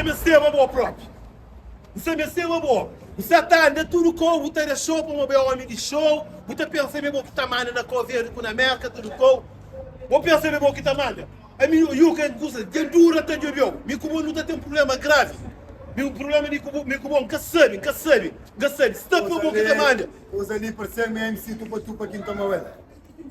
N meste ma bo propi. N sa meste ma bo. N sa ta anda tudu kou bu ta dexou pamo bu é omi di xou. Bu ta pensa ma é bo ki ta manda na Koverde ku na Merka tudu kou. Bo pensa ma é bo ki ta manda. Ami nu yu ka kusa dja dura ta djobiou. Mi ku bo nu ta ten prubléma gravi. Mi prubléma mi ku bo mi ku bo N ka sabe N ka sabe N ka sabe. Sta pa bo ki ta manda. Kusa li pa ser ma MC Tupa Tupa ki N toma el.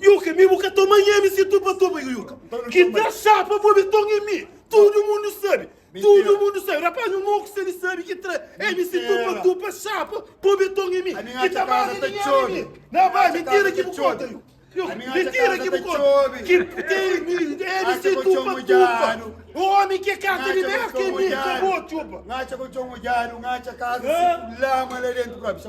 Yuka, mi bu ka toma nhami si Tupa Tupa, Yuka. Ki ta xapa bo mi toma mi. Tudu mundu sabe, tudu mundu sabe. Rapaz, nu mau ku sabe, sabe ki tra N si tupa tupa xapa po beton i mi ki ta basa na nha ami. Na ba, mentira ki bu konta yu. Yu, mentira ki bu konta. Ki tei mi, N si tupa tupa. Omi ke kasa di Merka i mi, ka bo txupa. N atxa kolxon odjadu, N atxa kasa si ku lama la dentu. Própi.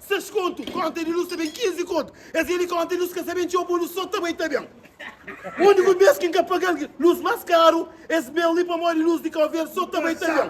Ses kontu konta di nu sa ben 15 kontu es veni konta di nu ska sa ben txeu bo nu so ta bai ta ben undi ku bes ki nka pagal ki lus mas karu es ben li pamodi lus di kau verde so ta bai ta ben.